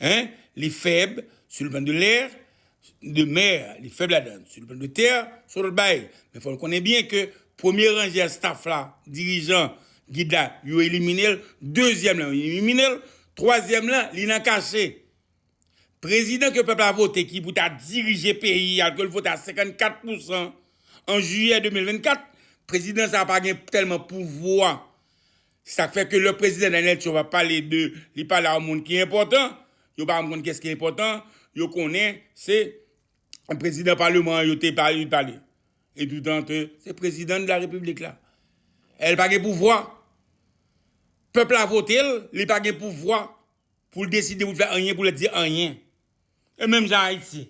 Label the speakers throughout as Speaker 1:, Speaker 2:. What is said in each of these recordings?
Speaker 1: 1 li fèb sur le plan de l'air, de mer, li fèb ladan sur le plan de terre, son lòt bagay. Men fò nou konnen byen ke premye ranje a staff la, dirijan, gid la, yo elimine l, dezyèm lan yo elimine l, twazyèm lan li nan kache. Prezidan ke pèp la vote ki pou ta dirije peyi a ke l vote a 54 pousan an jiyè 2024, prezidan sa pa gen tèlman pouvwa Se sa k fè ke lè Prezidan Daniel Trump ap pale de li pale a yon moun ki enpòtan, yo pa janm konn kiyès ki enpòtan, yo konnen se Prezidan Paleman an yo te pale li pale. E doudan ke se Prezidan de la Repiblik la. E l pa gen pouvwa. Pèp la vote l, li pa gen pouvwa pou l deside, pou l fè anyen, pou l di anyen. E menm jan Ayiti.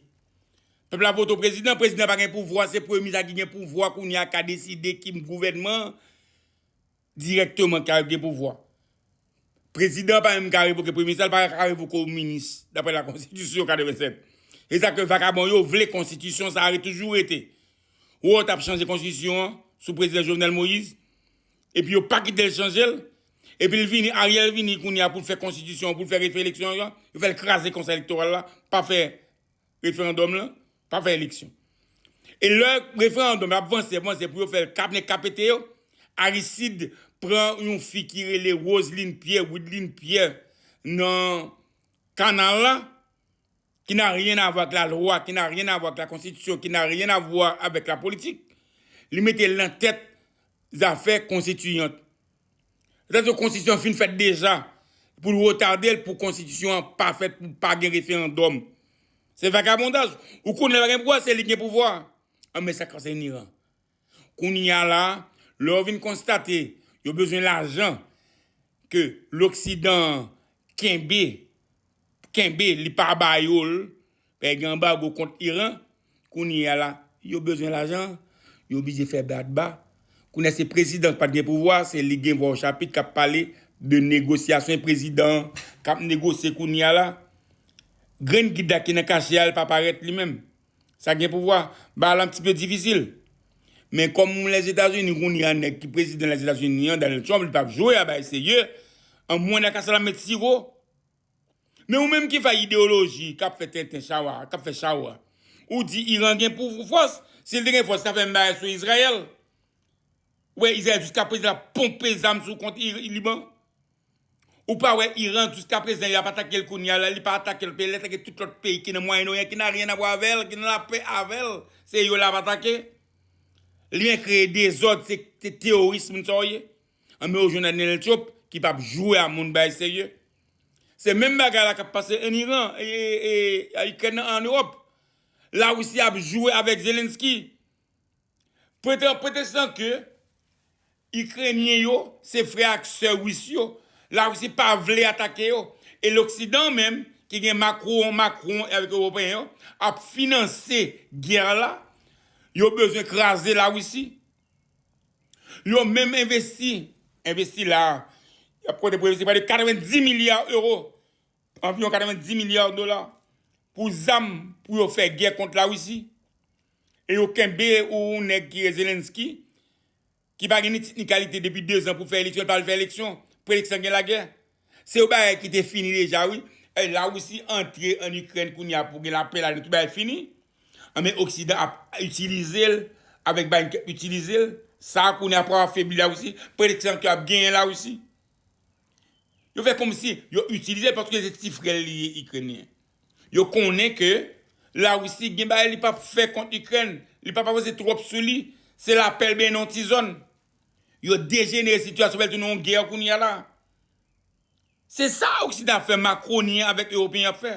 Speaker 1: Pèp la vote yon Prezidan, Prezidan an pa gen pouvwa, se Premye Minis la ki gen pouvwa kounye a ka deside ki gouvènman Dirèkteman ka yo gen pouvwa. Prezidan an pa menm ka revoke premye minis la, li pa ka revoke yon minis daprè la konstitisyon 87. E sa ke vakabon yo vle konstitisyon sa a toujou rete. Wè yo tap chanje konstitisyon an sou prezidan Jovenel Moïse epi yo pa kite l chanje l epi l vini Ariel vini kounye a pou l fè konstitisyon an pou l fè refè eleksyon an yo fè l kraze konsèy elektoral la pa fè Referandòm lan pa fè eleksyon. E lè referandòm ap vanse, ap vanse pou yo fè l kap nèg ka pete yo, Arisid pran yon fi ki rele Roseline Pierre, Wideline Pierre nan kanal la, ki n'a rien à voir ak la lwa, ki n'a rien à voir ak la konstitisyon, ki n'a rien à voir avèk la politik, li mete l nan tèt zafè konstitiyant. Petèt yon konstitisyon an fin fèt deja pou l retade l pou konstitisyon an pa fèt pou pa gen referandòm. Se vagabondaj. Ou konn lè pa gen pouvwa se li ki gen pouvwa. An men sa konse Niran. Kounye a la, lè yo vin konstate yo bezwen lajan ke loksidan an kenbe kenbe li pa ba yo l pè gen anbago kont Iran kounye a la yo bezwen lajan yo oblije fè bradba kounye a se prezidan ki pat gen pouvwa se li gen vwa ochapit kap pale de negosyasyon e prezidan an kap negosye kounye a la grenn gid la ki nan kache a li pa parèt li menm sa gen pouvwa bagay la anptipe difisil men kòm lèzetazini kounye a nèg ki prezidan lèzetazini an Donald Trump li pap jwe a bagay serye anmwey nan kasalanm met siwo. Men ou menm ki fè ideyoloji kap fè tenten chawa, kap fè chawa. Ou di Iran gen pou fòs, si l te gen fòs li tap fè menm bagay sou Izrayèl. Ou wè Izrayèl jiskaprezan ap ponpe zam sou kont Liban. Ou pa wè Iran jiskaprezan yap atake l kounya la, li pa atake l pè lè atake tout lòt peyi ki nan mwayen oryan ki nan ryen avwa avè l, ki nan lapè avè l, se yo lap atake. Li menm kreye dezòd se teyoris moun sa w ye. Anben ou jwenn Anel Trump ki pap jwe a moun bay serye. Se menm bagay la kap pase en Iran et Ukraine nan en Europe. La Russie ap jwe avek Zelensky. Prete en pretextant ke Ukrainien yo se frè ak sè Russe yo. La Russie pa vle atake yo. Et l'Occident menm ki gen Macron, Macron et avek Europeen yo ap finanse guerre la. Yo bezwen kraze la Russie. Yo menm envesti, envesti la a, y ap konte pou envesti pre de 90 milya ewo, anviwon 90 milya dola, pou zam pou yo fè gè kont Lawisi. E yo kenbe yon nèg ki rele Zelensky, ki pa gen ni tit ni kalite depi dezan pou fè eleksyon, l pa al fè eleksyon, pou eleksyon gen lagè. Se yon bagay ki te fini deja wi. Èy la Russie antre an Ukraine kounya pou gen lapè la tout bagay fini. Anben oksidan ap itilizel avèk biden kap itilizel sa kounya pou afebli la Russie pèdi san ki ap genyen la Russie. Yo fè komsi yo itilizel paske se ti frèl li ye Ukrainien. Yo konnen ke la Russie gen bagay li pap fè kont Ukraine. Li pap avanse twòp sou li. Se lapèl benyen nan yon ti zòn. Yo dejenere sitiyasyon fèl tounen yon gè kounyea la. Se sa oksidan ap fè makronyen avèk ewopeyen ap fè.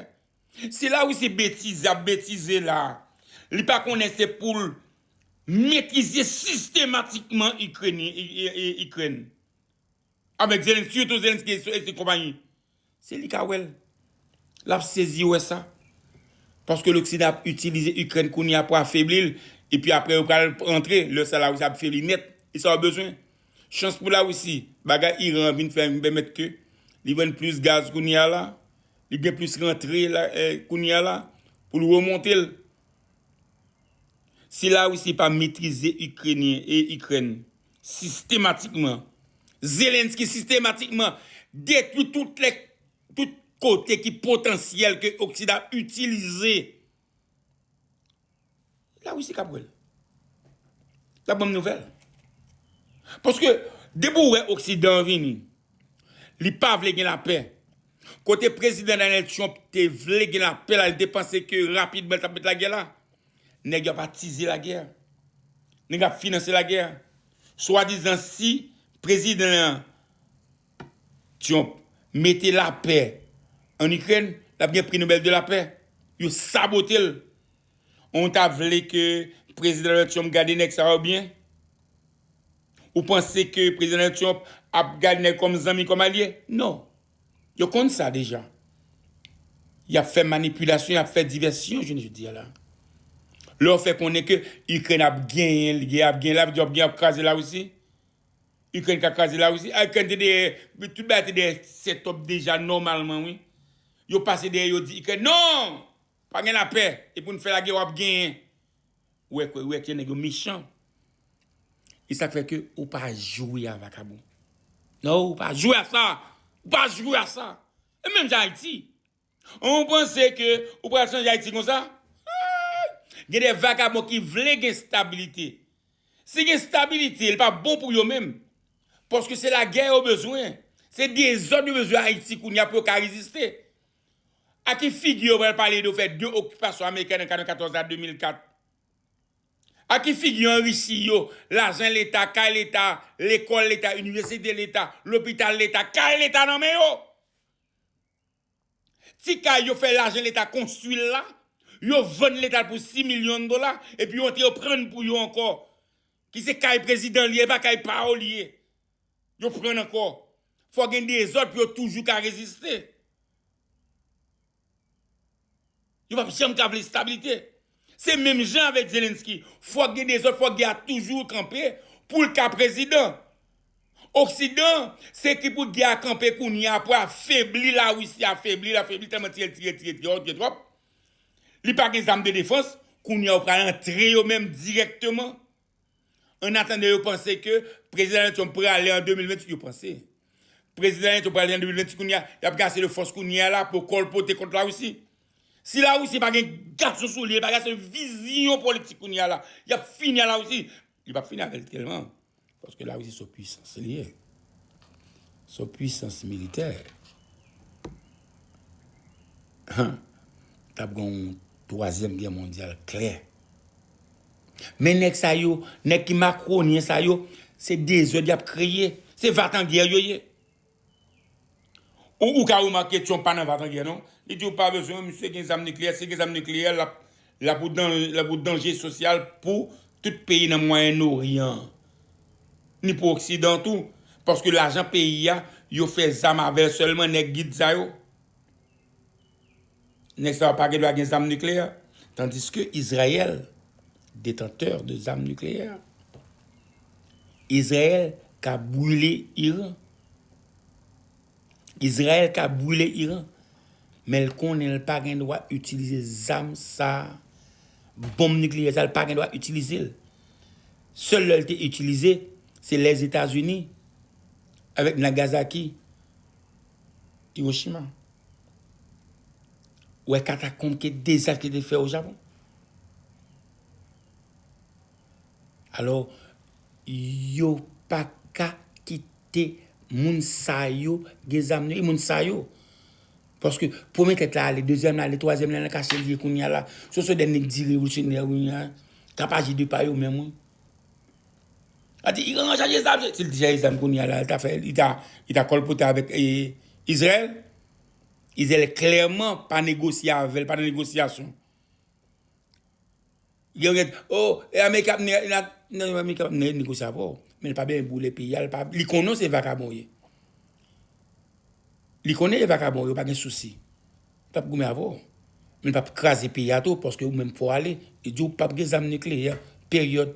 Speaker 1: Se la Russie betize ap betize la. Li pa konnen se poul metrize sistematikman ikrèn. Avèk zelensky yo tou zelensky e konpayi. Si li ka wè l, l ap sezi wè sa. Paske loksidan ap itilize Ikrèn kounye a pou afebli l, epi aprè yo pral rantre, lè sa Lawisi ap febli nèt. E sa yo bezwen. Chans pou Lawisi, bagay Iran an vin fè vin pèmèt ke li vann plis gaz kounye a la, li gen plis rantre kounye a la pou l remonte l. Si Lawisi pa metrize Ikrenyen e Ikrèn, Sistematikman. Zelensky sistematikman detwi tout lè tout kote ki potansyèl ke oksidan ap itilize. La Russie kap wèl. Lap banm nouvèl. Paske depi ou wè oksidan vini li pa vle gen lapè. Kote prezidan Donald Trump te vle gen lapè la li te panse ke rapidman li tap met lagè la. Nèg yo ap atize lagè. Nèg ap finanse lagè. Swadizan si prezidan an, Trump, mete lapè an Ikrèn, l ap gen pri Nobèl de lapè. Yo sabote l. Ou ta vle ke prezidan Donald Trump gade nèg sa yo byen? Ou panse ke prezidan Donald Trump ap gade nèg kòm zanmi, kòm alye? Non. Yo konn sa deja. Y ap fè manipilasyon, y ap fè divèsyon jounen jodi a la. Lè w fè konnen ke Ikrèn ap genyen, gè a ap genyen, l ap di w ap genyen, ap kraze Larisi. Ikrèn ka kraze Larisi. A Ikrèn te dèyè, tout bagay te dèyè sètòp deja nòmalman wi. Yo pase dèyè yo di Ikrèn non! Pa gen lapè e poun fè lagè wap genyen. Ou wè kwe ou wè kye nèg yo mechan. E sak fè ke ou pa jwe a vakabon. No ou pa jwe a sa. Ou pa jwe a sa. E menm jan ayiti. An ou panse ke ou pral chanje ayiti konsa. Haaay. Gen de vakabon ki vle gen stabilite. Si gen stabilite li pa bon pou yo menm. Paske se lagè yo bezwen. Se dezod yo bezwen ayiti kounya pou yo ka reziste. A ki figi yo pral pale de fè 2 okipasyon ameriken nan 94 a 2004? A ki figi yon Risi yo, lajan leta, kay leta, lekòl leta, inivèsite leta, lopital leta, kay leta nan men yo? Ti kay yo fè lajan leta konstwi la, yo vann leta l pou 6 milyon dola, epi yo antre yo prann pou yo ankò, ki se kay prezidan l ye, e pa kay pa yo l ye. Yo pran ankò. Fò gen dezòd pou yo toujou ka reziste. Yo pap janm ka vle stabilite. Se menm jan avèk Zelensky. Fòk gen dezòd, fòk gè a toujou kanpe pou l ka prezidan. Oksidan se ki pou gè a kanpe kounye a pou afebli Larisi, afebli l, afebli l tèlman tire, tire, tire, tire, tire twòp. Li pa gen zam de defans. Kounye a yo pral antre yo menm dirèkteman. Annatandan yo panse ke Prezidan Donald Trump prale an 2028, yo panse. Prezidan Donald Trump prale an 2028 kounye a, y ap gase le fòs kounye a la pou kòlpote kont Lawisi. Si Lawisi pa gen gason sou li, li pa gen ase vizyon politik kounye a la, y ap fini ak Lawisi. Li pa p fini avè l tèlman, paske Lawisi se yon pwisans li ye. Se yon pwisans militè. Han, t ap gen yon twazyèm gè mondyal klè. Men nèg sa yo, nèg ki makronyen sa yo, se dezòd y ap kreye. Se vatangè yo ye. Ou ka remake Trump pa nan vatangè non. Li di ou pa bezwen misye gen zam nikleyè. Si l gen zam nikleyè, l ap yon danje sosyal pou tout peyi nan Mwayen Oryan an. Ni pou oksidan an tou. Paske lajan peyi a, yo fè zam avè l sèlman nèg gid sa yo. Nèg sa yo pa gen dwa gen zam nikleyè tandiske Izrayèl detantè de zam nikleyè. Izrayèl ka brile Iran. Izrayèl ka brile Iran. Men l konnen l pa gen dwa itilize zam sa a. Bonm nikleyè sa l pa gen dwa itilize l. Sèl lè l te itilize, se lè Etazini avèk Nagazaki, Iwochima. Ou wè katakonb ke dezas li te fè o Japon? Alò, yo pa ka kite moun sa yo gen zam nan men yo, e moun sa yo. Paske premye tèt la ale, dezyèm la ale, twazyèm la nan kache li ye kounye a la. Se sou de nèg di revolusyonè kounye a, k ap aji de pa yo menm wi. Al di Iran an chaje zam, si l te chaje zam kounya la li ta fè li ta li ta kòlpote avèk Izrayèl. Izrayèl klèman pa negosye avè l, pa nan negosyasyon. Gen yon ki ap di oo e ameriken ap mennen nan, nan ameriken ap mennen negosye avè w, men l pa bene boule peyi a, li konnen w se vakabon w ye. Li konnen e vakabon w ye, w pa gen sousi. Pap goumen avè w. Men pap kraze peyi a tou paske ou menm fò ale. Li di w pap gen zam nikleyè. Peryòd.